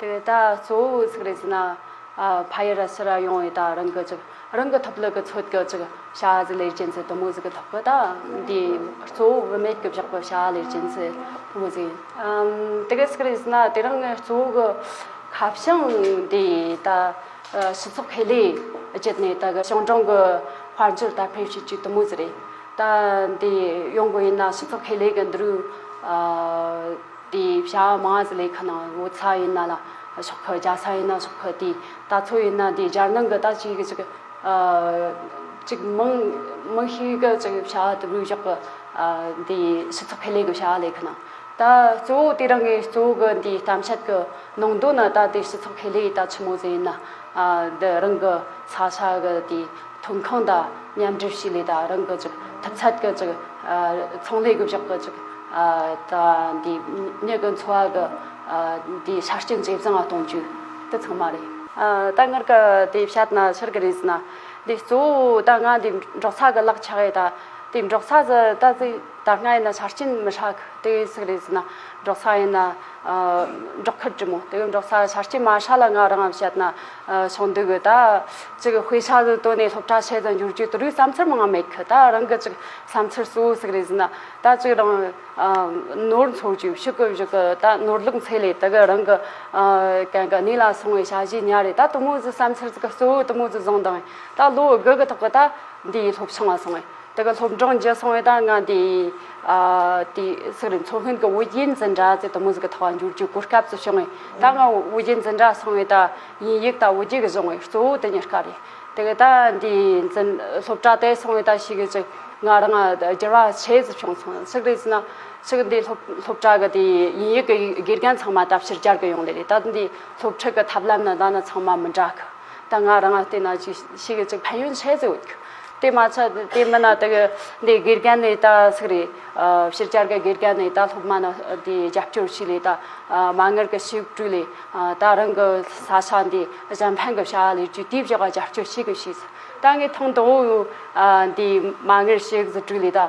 དེ་ལྟ་གཙོ་བོའི་ཚིག་རེ་ཟིན་ན། ཕ་ཡི་ར་ཕྱི་ར་ཡོང་བའི་དག་རིན་གྱི་ཅིག། རང་གི་ཐུབ་ལུགས་ཀྱི་ཚོད་ཀྱི་ཅིག། བྱ་གཟུགས་ལས་ཅན་ཚེ་དུ་མུ་ཟི་གི་ཐུབ་ཀྱི་དག། འདི་གཙོ་བོ་བུད་མེད་ཀྱི་བཞག་པའི་བྱ་བ་ལས་ཅན་ཚེ་དུ་མུ་ཟི་ཡིན། དེ་གའི་ཚིག་རེ་ཟིན་ན་དེ་རང་གཙོ་བོ་གི་ཁ་བྱང་དེ་ད་སྤྱི་ཚོགས་ཁེ་ལས་བརྒྱུད་ནས་ད་གའི་ཞིང་གྲོང་གི་དཔལ་འབྱོར་དར་འཕེལ་བྱེད་ཅིག་དུ་མུ་ཟི་རེད། ད་འདི་ཡོང་དགོས་ཡིན་ན་སྤྱི་ཚོགས་ཁེ་ལས་ཀྱི་འདི་རུ། དེ་བྱ་བ་མ་ཟི་ལའི་ཁ་ན་བོ་ཚ་ཡིན་ན་ལ་ཤོག་ཁུ་རྒྱ་ས་ཡིན་ན་ཤོག་ཁུ་དེ་ད་ཚོ་ཡིན་ན་དེ་རྒྱལ་ནང་གི་ད་ཅིག་གི་ཅིག་ཅིག་མང་མང་ཤོས་ཀྱི་ཅིག་བྱ་བ་དུ་བུའི་ཞོགས་ཀྱི་དེ་སྤྱི་ཚོགས་ཁེ་ལས་ཀྱི་བྱ་བ་ལས་ཁ་ན་ད་གཙོ་བོ་དེ་རང་གི་གཙོ་བོ་གི་དེ་གཏམ་བཤད་ཀྱི་ནང་དོན་ན་ད་དེ་སྤྱི་ཚོགས་ཁེ་ལས་ད་ཆི་མོ་ཟེ་ཡིན་ན། འདི་རང་གི་ས་ཆ་གི་དེའི་ཐོན་ཁུངས་དང་མཉམ་སྒྲུབ་བྱས་ནས་དང་རང་གི་ཅིག་ཐུབ་ཚད་ཀྱི་ཅིག་ཚོང་ལས་སྒུལ་ཤུགས་ཀྱི་ཅིག་དང་དེའི་མྱུ་གུ་འཚོ་བ་གི་དེའི་ཆ་རྐྱེན་ཇེ་བཟང་གཏོང་རྒྱུ་དེ་ཚང་མ་རེད། ད་སྔར་གྱི་དེ་བཤད་ན་ཆེར་གི་རེད་ཟེར་ན་དེ་གཙོ་བོ་ད་སྔ་དེ་འབྲོག་ས་གི་གླགས་ཆགས་ཡོད་དེ་འབྲོག་ས་ཟེར་ད་གཟིགས་ད་སྔ་ཡིན་ན་ཆ་རྐྱེན་མི་ཧྲག་དེ་ཟིག་རེད་ཟེར་ན་འབྲོག་ས་ཡིན་ན། སྒྲོག་ཁབ་ཀྱི་མོ་དེ་གའི་འབྲོག་ས་ཆར་སྐྱེས་མ་ཧྲ་ལ་ང་རང་ངམ་བཤད་ན་ཆོག་འདུག་གོ་ད། ཅིག་གི་དཔེ་ཆ་དེ་བཏོན་ནས་སློབ་གྲྭ་ཆེད་དུ་འགྱུར་རྒྱུའི་དུ་རུའི་བསམ་ཚུལ་མང་མེད་གི་ད་རང་གི་ཅིག་བསམ་ཚུལ་གཙོ་བོ་ཟིག་རེད་ཟིན་ན་ད་ཅིག་རང། ནོར་འཚོལ་རྒྱུ་ཕྱི་གོས་བཞུགས་གི་ད་ནོར་ལུག་འཚེ་ལས་དེ་གའི་རང་གི། གན་གི་གནས་ལ་སོང་བའི་བྱ་བྱེད་ཉག་རེད་ད་དུ་མོ་ཟིག་བསམ་ཚུལ་ཟིག་གཙོ་བོ་དུ་མོ་ཟིག་བཟང་དང། ད་ལོ་དགུ་གི་ཐོག་གི་ད་འདིའི་སློབ་ཆུང་ང་སོང་ངས་དེ་ག་སློབ་འབྲིང་རྒྱལ་སྲུང་བས་ད་ང་འདི་དེ་སི་རི་མཚོ་སྔོན་གྱི་དབུ་རྒྱན་འཛིན་གྲྭ་ཙེ་ཏོ་མུ་ཟི་ཀི་ཐོག་འགྱུར་རྒྱུའི་གོ་སྐབས་སུ་བྱུང་བས་ད་ང་དབུ་རྒྱན་འཛིན་གྲྭ་སྲུང་བས་ད་དབྱིན་ཡིག་དང་དབུ་རྒྱན་གྱི་གཞུང་བས་གཙོ་བོ་དེ་གཉེར་ཀ་རེད་དེ་ག་ད་འདི་འཛིན་སློབ་གྲྭ་དེ་སྲུང་བས་ད་ཤི་གི་ཅིག་ང་རང་བསྒྱུར་བ་ཆེ་ཙི་བྱུང་སོང་ཚིག་རེ་ཟིན་ན་ཚིག་འདི་སློབ་སློབ་གྲྭ་གི་དེ་དབྱིན་ཡིག་གི་དགེ་རྒན་ཚང་མ་ད་ཕྱིར་སྦྱར་གི་ཡོང་ལེ་རེད་ད་འདི་སློབ་ཁྲིད་ཀྱི་ཐབས་ལམ་ན་ད་ནི་ཚང་མ་མི་འདྲ་གི། ད་ང་རང་ལྟས་ན་ཅིག་ཤི་གི་ཅིག་ཕན་ཡོན་ཆད་ཟེར་འོད་ཁྱོད་དེ་མ་ཚད་དེ་མིན་ན་དགེ་འདི་དགེ་རྒན་ནས་ད་ཚིག་རེད་ཕྱིར་བསྐྱར་ག་དགེ་རྒན་ནས་ད་སློབ་མ་ནི་དེ་རྒྱབ་སྐྱོར་ཞིག་ལས་ད་མ་ངར་གི་ཞིག་བཀྲུས་ལས་ད་རང་གི་ས་ཆ་འདི་གཞན་ཕན་གི་བྱ་བ་ལས་ཅུ་དེ་བཞག་ག་རྒྱབ་སྐྱོར་ཞིག་གི་ཞིག་ད་ངས་ཐང་དང་བོ་འདི་མ་ངར་ཞིག་བཀྲུས་ལས་ད།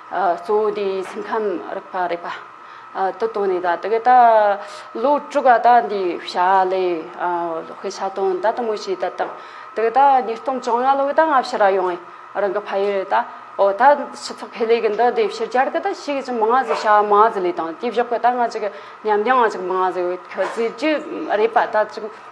གཙོ་བོ་དེ་སེམས་ཁམས་རིག་པ་རེད་པ། དུ་བཏོན་ནས་ད་དེ་ག་ད་ལོ་དྲུག་ག་ད་འདི་བྱ་ལས་དཔེ་ཆ་བཏོན་ད་ལྟ་མོ་བྱས་ད་དང་དེ་ག་ད་ཉིས་སྟོང་བཅོ་ལྔ་ལོ་ག་ད་ང་ཕྱིར་ར་ཡོང་ངས་རང་གི་ཕ་ཡུལ་རེད་ད་འོ་ད་སྤྱི་ཚོགས་ཕེ་ལེ་གི་འདི་དེ་ཕྱིར་གྱར་གི་ད་ཕྱིས་གི་ཅི་མང་ང་ཟིག་བྱ་མང་ཟིག་ལས་དང་དེ་བཞག་གི་ད་ང་ཅིག་ཉམས་ལྡན་ང་ཅིག་མང་ཟིག་ཁྱོད་ཟིག་ཅི་རེད་པ་ད་ཅིག་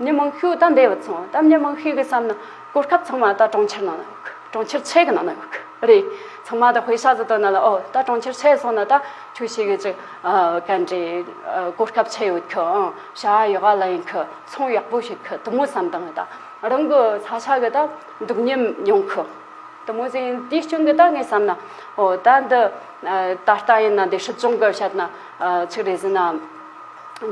ནས་དམངས་ཕྱུག་དང་འབྲེལ་བ་ཚང་བ་དང་ནས་དམངས་ཕྱུག་གི་བསམ་ན་གོ་སྐབས་ཚང་མ་ད་གྲོང་ཁྱེར་ནང་ན་གྲོང་ཁྱེར་ཆེ་གི་ནང་ན་ཡོད་གི་རེད་ཚང་མ་ད་ཧུའེ་ཤ་ཟི་དོ་ན་ལ་ཨོ་ད་གྲོང་ཁྱེར་ཆེ་སོང་ན་ད་ཁྱོད་ཤེས་གི་ཅིག་གན་རེ་གོ་སྐབས་ཆེ་ཡོད་གི་ཨང་བྱ་བ་ཡོད་ག་ལ་ཡིན་གི་ཚོང་ཡག་པོ་ཞིག་གི་དུ་མོ་བསམ་དང་ད་རང་གི་ས་ཆ་གི་ད་འདུག་ཉེན་ཡོང་གི་དུ་མོ་ཟིན་དེའི་སྐྱོན་གི་ད་ངས་བསམ་ན་ཨོ་ད་འདི་ད་ལྟ་ཡིན་ན་འདི་སྲིད་སྐྱོང་གི་བཤད་ན་ཅིག་རེད་ཟིན་ན།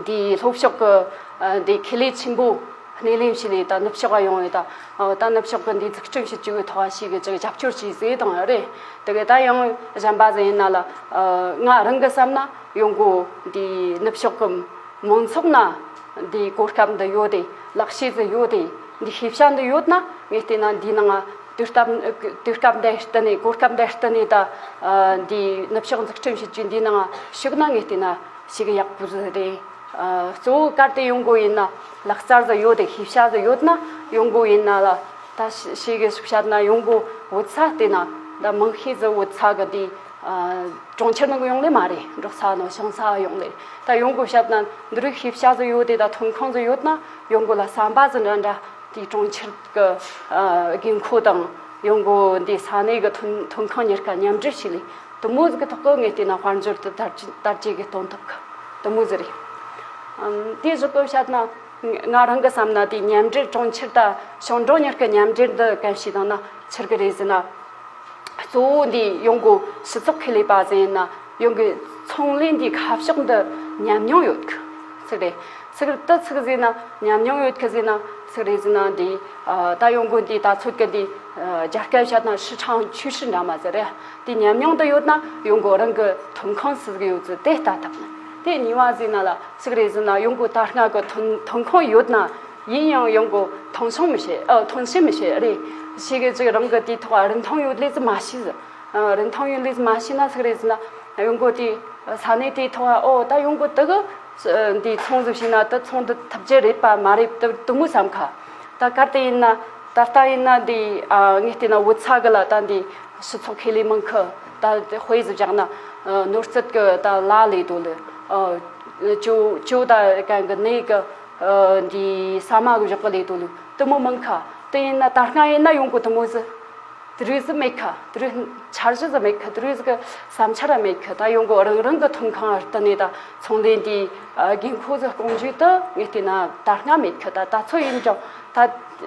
འདིའི་ལྷོ་ཕྱོགས་ཀྱི་འདི་ཁེ་ལས་ཆེན་པོ་སྣེ་ལེན་བྱས་ནས་ད་ནུབ་ཕྱོགས་ལ་ཡོང་བའི་ད་ནུབ་ཕྱོགས་ཀྱི་འདི་འཛུགས་སྐྲུན་བྱེད་ཀྱི་ཐོག་ཞིག་གི་རྒྱབ་སྐྱོར་བྱས་ཟེར་དང་རེད་དེ་ག་ད་ཡང་གཞན་པ་ཟེར་ན་ལ་ང་རང་གི་བསམ་ན་ཡོང་སྒོ་འདི་ནུབ་ཕྱོགས་ཀྱི་མང་ཚོགས་ན་འདི་གོ་སྐབས་འདི་ཡོད་དེ་ལག་ཤེས་འདི་ཡོད་དེ་འདི་ཤེས་བྱ་འདི་ཡོད་ན་ངས་བལྟས་ན་འདི་ནང་དུས་སྐབས་འདི་ལྟ་ནས་གོ་སྐབས་འདི་ལྟ་ནས་ད་འདི་ནུབ་ཕྱོགས་འཛུགས་སྐྲུན་བྱེད་ཀྱི་འདི་ནང་ཞུགས་ན་ངས་བལྟས་ན་ཞིག་ཡག་པོ་རེད། གཙོ་བོ་གར་དེ་ཡོང་དགོས་ཡིན་ན་ལག་རྩལ་དུ་ཡོད་དེ་ཤེས་བྱ་དུ་ཡོད་ན་ཡོང་དགོས་ཡིན་ན་ལ་ད་ཤེས་གི་ཤུགས་བྱ་ན་ཡོང་དགོས་འོད་ས་དེ་ན་ད་མང་ཤས་ཚོ་འོད་ས་གི་དེ་གྲོང་ཁྱེར་ནང་གི་ཡོང་ལེ་མ་རེད་འབྲོག་ས་ནང་ཤང་ས་ཡོང་ལེ་ད་ཡོང་དགོས་བྱ་ན་འདི་རིགས་ཤེས་བྱ་དུ་ཡོད་དེ་ད་ཐོན་ཁང་དུ་ཡོད་ན་ཡོང་དགོས་ལ་བསམ་པ་ཅི་འདྲ་འདྲ་དེ་གྲོང་ཁྱེར་གི་དགོས་མཁོ་དང་ཡོང་དགོས་འདི་ས་གནས་གི་ཐོན་ཁང་གཉེར་ཁ་མཉམ་འབྲེལ་བྱེད་ལེ་དུ་མོ་གི་ཐོག་གི་ངས་ལྟས་ན་དཔལ་འབྱོར་དུ་དར་དར་རྒྱས་གི་གཏོང་ཐབས་དུ་མོ་ཟེར་རེད། དེའི་གཟུགས་པོ་བཤད་ན་ང་རང་གི་བསམ་ན་དེའི་ཉམས་འགྲེལ་གྲོང་ཁྱེར་དང་ཞང་གྲོང་གཉིས་ཀྱི་ཉམས་འགྲེལ་འདི་གང་ཞིག་དང་ན་ཕྱིར་གི་རེད་ཟེར་ན། གཙོ་བོ་འདི་ཡོང་སྒོ་སྤྱི་ཚོགས་ཁེ་ལས་པ་ཟེར་ཡིན་ན་ཡོང་གི་ཚོང་ལས་འདིའི་ཁ་ཕྱོགས་འདི་ཉམས་མྱོང་ཡོད་གི་ཚིག་རེད། ཚིག་རེད་དུ་ཚིག་ཟེར་ན་ཉམས་མྱོང་ཡོད་གི་ཟེར་ན་ཚིག་རེད་ཟེར་ན་འདི་ད་ཡོང་སྒོ་འདི་ད་ཚོད་ཀྱི་འདི་རྒྱ་སྐད་བཤད་ན་ཧྲི་ཁྲང་ཆུས་ཧྲི་འདྲ་མ་ཟེར་རེད། དེ་ཉམས་མྱོང་དུ་ཡོད་ན་ཡོང་སྒོ་རང་གི་ཐོན་ཁུངས་སུ་ཟིག་ཡོད་ཚུལ་དེ་ལྟ་ཐུབ། དེ་གཉིས་མ་ཟིན་ན་ལ་ཟིག་རེ་ཟིན་ན་ཡོང་སྒོ་དར་ནག་གི་ཐོན་ཐོན་ཁུངས་ཡོད་ན་ཡིན་ཡང་ཡོང་སྒོ་ཐོན་ཤོང་མི་བྱེད་ཨ་ཐོན་བྱེད་མི་བྱེད་རེད། ཤེས་གི་ཅིག་རང་གི་དེའི་ཐོག་རིན་ཐང་ཡོད་ལེ་ཟིག་མ་བྱས་ཟིན། རིན་ཐང་ཡོད་ལེ་ཟིག་མ་བྱས་ན་ཟིག་རེ་ཟིན་ན་ཡོང་སྒོ་དེ་ས་གནས་དེའི་ཐོག་ཨོ་ད་ཡོང་སྒོ་དག་འདི་ཚོང་ཟིག་བྱས་ན་ད་ཚོང་དུ་ཐུབ་ཀྱི་རེད་པ་མ་རེད་ད་དུ་མུ་བསམ་ཁ། ད་གར་དེ་ཡིན་ན་ད་ལྟ་ཡིན་ན་འདི་ངས་བལྟས་ན་བུ་ཚ་གི་ལ་ད་འདི། སྤྱི་ཚོགས་ཁེ་ལས་མང་ཁུལ་དང་དཔེ་གཞི་བཞག་ན། ནོར་སྲིད་ཀྱི་དང་ལ་ལས་དོ་ལས། ཅོ་དང་རྐང་གི་ནད་ཀྱི། ས་མ་གཞག་གི་ལས་དོ་ལས། དུ་མོ་མང་ཁ་དེ་ཡིན་ན་ད་སྔ་ཡིན་ན་ཡོང་གི་དུ་མོ་ཟི། དུ་རུ་ཟི་མེད་ཁ་དུ་རུ་འཆར་གཞི་ཟི་མེད་ཁ་དུ་རུ་ཟི་གི་བསམ་འཆར་ར་མེད་ཁ་ད་ཡོང་གི་རང་རང་གི་ཐོན་ཁང་ཨར་ཏི་ནས་ད་ཚོང་ལས་འདིའི་དགོས་མཁོ་ཟི་སྐོང་རྒྱུའི་དུ་ངས་བལྟས་ན་ད་སྔ་མེད་ཁ་ད་ད་ཚོད་ཡིན་ཀྱང་ད་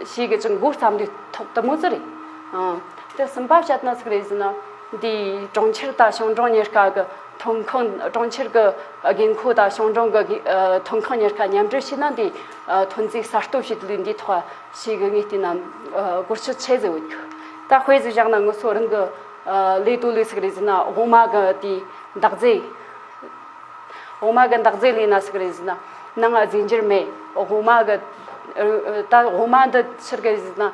ཕྱིས་ཀྱི་ཅི་འགོ་བརྩམས་དུས་ཐོག་དུ་མོ་ཟི་རེད། དེ་སུམ་པ་བཤད་དོན་ཟིག་རེད་ཟེར་ན། འདི་གྲོང་ཁྱེར་དང་ཞང་གྲོང་གཉེར་ཁག་གི་ཐོན་ཁུངས་གྲོང་ཁྱེར་གྱི་རྒན་ཁོག་དང་ཞང་གྲོང་གི་ཐོན་ཁུངས་གཉེར་ཁག་མཉམ་འབྲེལ་བྱས་ན་འདི་ཐོན་རྫས་གསར་གཏོད་བྱེད་དུས་འདི་ཐོག་ཞིག་གི་ངེས་བརྟེན་ནམ་བཀོལ་སྤྱོད་བྱེད་ཟེར་འོས། ད་དཔེ་ཟིག་བཞག་ན་ངོས་སུ་རང་གི་ལས་དོན་ལས་ཟིག་རེད་ཟེར་ན་འོག་མ་གི་དེ་འདག་རྫས། འོག་མ་གི་འདག་རྫས་ལས་ན་ཟིག་རེད་ཟེར་ན་ནང་རྫས་འགྱུར་མེད་འོག་མ་གི། ད་འོག་མ་འདི་ཕྱིར་གྱིས་ཟེར་ན།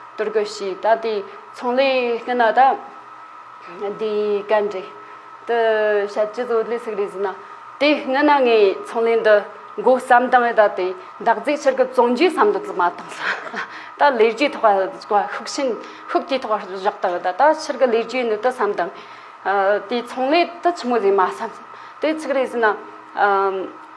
གཏོར་རྒོལ་ཞེས་ད་ལྟའི་ཚོང་ལས་སྐྱོན་ན་ད་ལྟའི་གན་རྒྱའི་དུ་བྱ་སྤྱི་བཟོ་ལས་ཚིག་རེ་བཟོས་ན་དེ་སྔོན་ན་ངའི་ཚོང་ལས་འདི་མགོ་བརྩམས་དང་ད་ལྟའི་འདག་རྫས་ཕྱིར་གི་བཙོང་རྒྱུའི་བསམ་བློ་དུ་མ་བཏང་ས་ད་ལས་རྒྱུའི་ཐོག་ལ་ཤུགས་ཆེན་ཤུགས་ཀྱིས་ཐོག་བཞག་དང་ད་ལྟ་ཕྱིར་གི་ལས་རྒྱུའི་ནི་དུ་བསམས་དང་དེའི་ཚོང་ལས་དུ་ཆི་མོ་ཟེར་མ་བསམས་དེ་ཚིག་རེ་བཟོས་ན་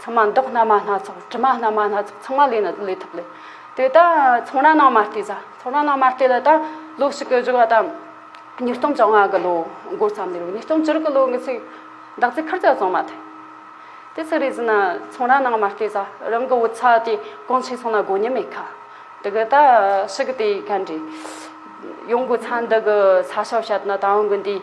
ཚང་མ་མདོག་སྣ་མ་སྣ་ཚོགས་དྲི་མ་སྣ་མ་སྣ་ཚོགས་ཚང་མ་ལས་ན་ལས་ཐུབ་ལས། དེ་ད་ཚོང་ར་ནང་མ་བལྟས་ས་ཚོང་ར་ནང་མ་བལྟས་ལ་ད་ལོ་ཞིག་གི་བཞུགས་བ་ད་ཉིས་སྟོང་བཅོ་ལྔ་གི་ལོ་འགོ་ཙམ་ནས་རེད་ཉིས་སྟོང་བཅུར་གི་ལོ་འགི་ཚེ་བདག་ཚེ་ཁར་ཅག་བཙོང་མ་ཐུབ། དེ་ཚེ་རེས་ན་ཚོང་ར་ནང་མ་བལྟས་ས་རང་གི་བུ་ཚ་དེ་གང་ཆེ་སོང་ན་དགོས་ཉེན་མེད་ཁ། དེ་གི་ད་ཞིག་གི་དེ་ག་འདྲས། ཡོང་གི་ཚ་འདི་གི་ཚ་ཞབས་བཤད་ན་ད་འང་གི་འདིས།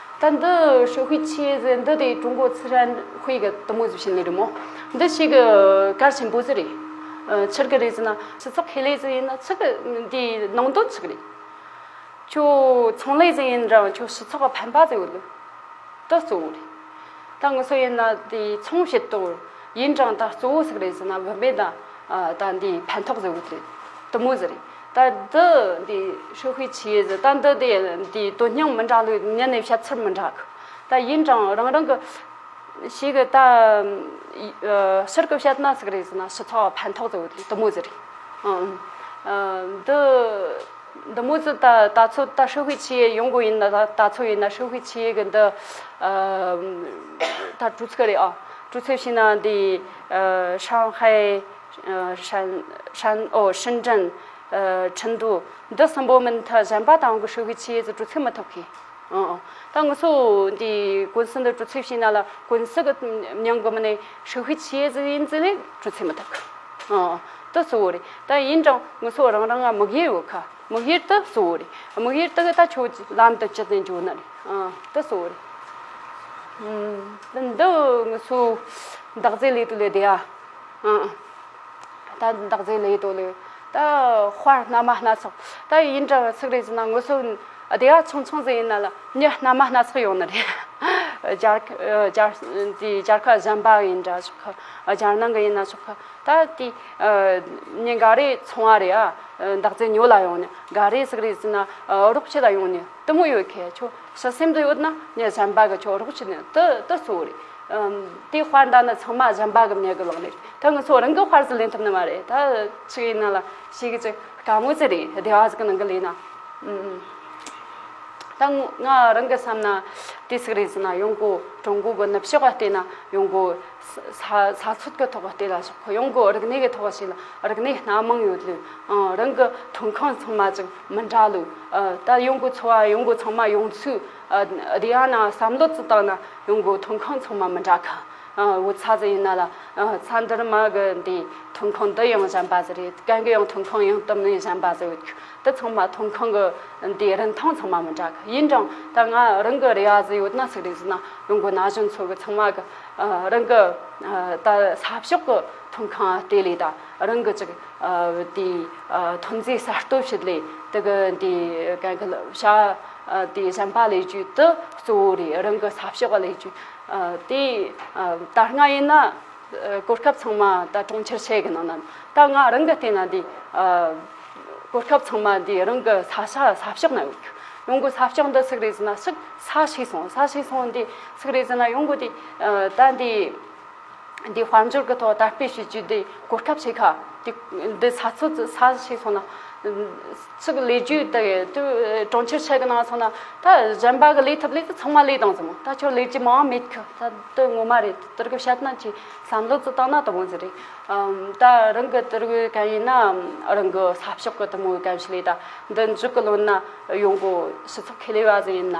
ད་འདི་ཤོད་ཤུགས་ཆེ་ཟེར་འདི་དེ་ཀྲུང་གོ་ཚི་རན་ཧུའེ་གི་དུ་མོ་ཟེར་བྱེད་ནི་རེད་མོ། འདི་ཞིག་གི་གར་ཆེན་པོ་ཟེར་རེད། ཕྱིར་གི་རེད་ཟེར་ན་ཕྱི་ཚགས་ཁེ་ལས་ཟེར་ཡིན་ན་ཚིག་དེ་ནང་དོན་ཚིག་རེད། ཁྱོད་ཚོང་ལས་ཟེར་ཡིན་རང་ཁྱོད་ཕྱི་ཚགས་ཕན་པ་ཟེར་འོད་ད་གཙོ་བོ་རེད། ད་ངོ་སོ་ཡིན་ན་དེ་ཚོང་བྱེད་དོར་ཡིན་རང་ད་གཙོ་བོ་ཟིག་རེད་ཟེར་ན་བུད་མེད་ད་ད་འདི་ཕན་ཐོགས་ཟེར་འོད་རེད་དུ་མོ་ཟེར་རེད། ད་འདི་འདི་ཧྲི་ཧུའེ་ཆི་ཡེ་ཟེར་ད་འདི་དེ་འདིའི་དོན་སྙིང་མི་འདྲ་ལུགས་ཉན་ནས་བཤད་ཚུལ་མི་འདྲ་གི། ད་ཡིན་ཀྱང་རང་རང་གི། ཞིག་གི་ད། ཕྱིར་གི་བཤད་ན་ཟིག་རེད་ཟེར་ན་ཞི་ཚགས་བ་ཕན་ཐོགས་ཟེར་བ་དེ་དུ་མོ་ཟེར་རེད། ཨང། འདི། དུ་མོ་ཟེར་ད་ད་ཚོད་ད་ཧྲི་ཧུའེ་ཆི་ཡེ་ཡོང་དགོས་ཡིན་ན་ད་ད་ཚོད་ཡིན་ན་ཧྲི་ཧུའེ་ཆི་ཡེ་གི་འདི། ད་གྲུ་ཚིགས་རེད་ཨང་གྲུ་ཚིགས་ཤིག་ན་འདི། ཧྲང་ཧའེ། ཧྲན། ཧྲིན་ཀྲིན། ཁྲིན་ཏུའུ། འདི་གསུམ་པོ་མི་མཐུད་གཞན་པ་དང་གི་ཧྲུའུ་གི་ཆེད་དུ་གྲུ་ཚིགས་མི་ཐུབ་ཁི། ད་ངུ་སུ་འདི་ཀུན་སི་འདི་གྲུ་ཚིགས་བྱས་ན་ལ་ཀུན་སི་གི་མྱང་གི་མི་ནི་ཧྲུའུ་གི་ཆེད་དུ་ཡིན་ཙི་ནི་གྲུ་ཚིགས་མི་ཐུབ་ཁི། དི་གཙོ་བོ་རེད་ད་ཡིན་ཀྲང་ངུ་སུ་རང་རང་ང་མི་གཡེར་ཡོད་ཁ་མི་གཡེར་དི་གཙོ་བོ་རེད་མི་གཡེར་དི་གི་ད་ཁྱོད་ལམ་དུ་ཅི་ནས་འགྱོ་ན་རེད་དི་གཙོ་བོ་རེད། འདི་ངུ་སུ་འདག་རྫས་ལས་དུ་ལས་བདེ་ཡ། ད་ལྟ་འདག་རྫས་ལས་དོ་ལོས། ད་དཔར་སྣ་མ་སྣ་ཚོགས། ད་ཡིན་འདྲ་བར་ཚིག་རེ་བྱས་ན་ངོ་སོ་བདེ་བ་ཆུང་ཆུང་ཟིག་ཡིན་ན་ལ་ཉི་སྣ་མ་སྣ་ཚོགས་ཡོང་ནི་རེད། སྦྱར་ཁ་གཞན་པ་ཡིན་འདྲ་ཆོག་གི་སྦྱར་ནང་གི་ཡིན་ན་ཆོག་གི་ད་དེ་ཉིན་འགའ་རེ་ཚོང་བ་རེད་ཨ་འདག་རྫས་ཉོ་ལ་ཡོང་ནི་འགའ་རེ་ཚིག་རེ་བྱས་ན་རོགས་བྱེད་ལ་ཡོང་ནི་དུ་མོ་ཡོད་ཁས་ཆོག་ཤི་སེམས་དུ་ཡོད་ན་ཉིན་གཞན་པ་གི་ཆོག་རོགས་བྱེད་ནི་དུ་གཙོ་བོ་རེད། དེའི་དཔར་མདའ་ནི་ཚང་མ་གཞན་པ་གི་མྱི་གི་ལག་ནས་རེད་ད་ངི་ཚོ་རང་གི་དཔར་ཟི་ལེན་ཐུབ་ནི་མ་རེད་ད་ཅི་ཡིན་ན་ལ་ཞིག་གི་ཅི་དཀའ་དངོས་ཅི་རེད་བདེ་བ་ཟི་གི་ནང་གི་ལེན་ན་ད་ང་རང་གི་བསམ་ན་དེ་ཟིག་རེད་ཟི་ན་ཡོང་སྒོ་ཀྲུང་གོ་གི་ནུབ་ཕྱོགས་ག་ལྟེ་ན་ཡོང་སྒོ་ས་ས་ཚུགས་གི་ཐོག་ག་ལྟེ་ལ་ཞོག་ཁོ་ཡོང་སྒོ་རིག་གནས་གི་ཐོག་ཞིག་ལ་རིག་གནས་སྣ་མང་ཡོད་ལུས་ཨང་རང་གི་ཐོན་ཁང་ཚང་མ་ཅིག་མི་འདྲ་ལུས་ད་ཡོང་སྒོ་འཚོ་བ་ཡོང་སྒོ་ཚང་མ་ཡོང་ཚུལ་རེ་ཡང་ན་བསམ་བློ་བཙུགས་དང་ན་ཡོང་སྒོས་ཐོན་ཁུངས་ཚང་མ་མི་འདྲ་གི་འོ་ཚ་ཟེར་ཡིན་ན་ལ་ཚ་འདིར་མ་གི་འདི་ཐོན་ཁུངས་འདི་ཡང་གཞན་པ་ཟེར་རེ་གན་གི་ཡང་ཐོན་ཁུངས་ཡང་དུམ་ནས་གཞན་པ་ཟེར་འདི་ཚང་མ་ཐོན་ཁུངས་གི་འདི་རིན་ཐང་ཚང་མ་མི་འདྲ་གི་ཡིན་ཀྱང་ད་ང་རང་གི་རེ་བ་ཟེར་ཡོད་ན་ཟེར་རེ་ཟེར་ན་ཡོང་སྒོས་ན་གཞོན་ཚོ་གི་ཚང་མ་གི་རང་གི་ད་ས་ཕྱོགས་གི་ཐོན་ཁུངས་ལྟེ་ལས་ད་རང་གི་ཅིག་དེའི་ཐོན་རྫས་གསར་གཏོད་བྱེད་ལས་དེ་གི་འདི་གན་གི་བྱ། དེ་གཞན་པ་ལས་རྒྱུད་དུ་གཙོ་བོ་རེད་རང་གི་ས་ཕྱོགས་ལས་རྒྱུད། དེ་ད་སྔ་ཡིན་ན་གོ་སྐབས་ཚང་མ་ད་གྲོང་ཁྱེར་ཆེ་གི་ནང་ན་ད་སྔ་རང་གི་ལྟས་ན་དེ་གོ་སྐབས་ཚང་མ་དེ་རང་གི་ས་ཆ་ས་ཕྱོགས་ན་ཡོད་ཀྱི། ཡོང་གི་ས་ཕྱོགས་འདི་སུག་རེད་ཟེར་ན་སུག་ས་ཤི་སོང་ས་ཤི་སོང་དེ་སུག་རེད་ཟེར་ན་ཡོང་གི་དེ་ད་དེ། དེའི་དཔལ་འབྱོར་གྱི་ཐོག་དར་སྤེལ་བྱེད་རྒྱུ་དེ་གོ་ཐབས་བྱེད་ཁ། འདི་ས་ཚིགས་ས་ཞིག་སོང་ན། ཚིག་ལས་རྒྱུ་དེ་གྲོང་ཁྱེར་ཆེ་གི་ནང་སོང་ན་ད་གཞན་པ་གི་ལས་ཐབས་ལས་ཀྱི་ཚང་མ་ལས་དང་ཟེར་མོ་ད་ཁྱོད་ལས་ཀྱི་མ་འང་མེད་ཁུ་ད་དེ་ངོ་མ་རེད་དེ་རིགས་བཤད་ན་ཅིག་བསམ་བློ་ཙི་བཏང་ན་དེ་མོ་ཟེར་རེད། ད་རང་གི་དེ་རིགས་གན་ཡིན་ན་རང་གི་ས་ཕྱོགས་གི་དེ་མོ་གན་ཞིག་ལས་ད་འདི་མཇུག་གི་ལོ་ན་ཡོང་གོ་ཞི་ཚུགས་ཁེ་ལས་བ་ཟེར་ཡིན་ན།